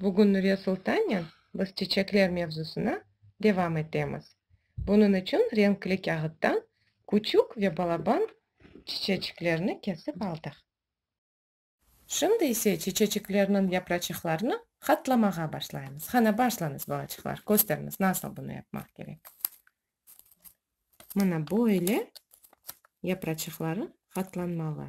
Bugün Nuriye Sultannen biz çeçekler mevzusına devam etemiz. Bunıñ içün renkli kâğıttan küçük ve balaban çiçeçiklerni kesip aldıq. Şimdi ise çiçeçiklerniñ yapraçıqlarını qatlamağa başlaymız. Qana, başlañız, balaçıqlar, kösterñiz, nasıl bunı yapmaq kerek. Mana böyle yapraçıqları qatlanmalı.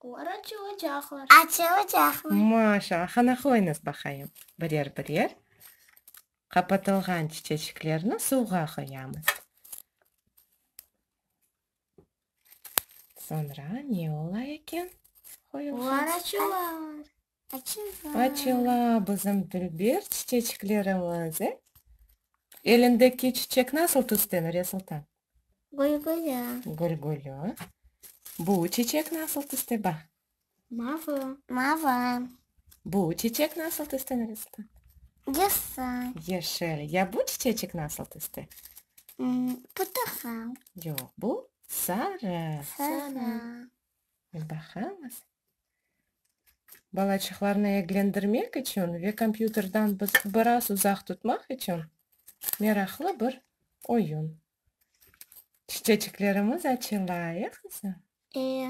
Olar açılacaqlar. Açılacaqlar. Maşa, hana qoyuñız baqayım. Birer-birer qapatılğan çiçeçiklerni suvğa qoyamız. Soñra ne ola eken? Olar açılar. Açıla bizim dülber çiçeçiklerimiz, e? Elindeki çiçek nasıl tüsten, Resultan? Gülgülü. Gülgülü. Bu çiçek nasıl tüste, baq? Mavı. Mavı. Bu çiçek nasıl tüsten, Resultan? Yeşil. Yeşil. Ya bu çiçeçik nasıl tüste? Portakal. Yoq, bu sarı. Sarı. Baqamız. Balaçıqlarnı eglendirmek içün ve kompyuterden biraz uzaq tutmaq içün meraqlı bir oyun. Çiçeciklerimiz açıla, e qızım? E.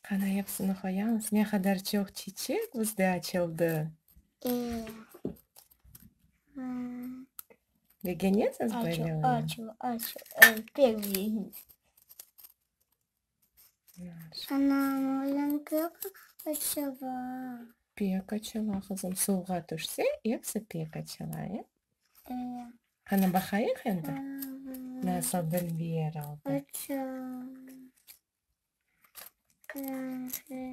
Qana epsini qoyamız. Ne qadar çoq çiçek bizde açıldı. E. Begenesiz böyle oyun? Açıl, açıl, açıl. Ey, pek begendim. Anam, oğlan pek açıla. Pek açıla, qızım. Suvğa tüşse, episi pek açıla, e? E. Qani, baqayıq endi, nasıl Dilber oldı. Açıla. Qırmızı.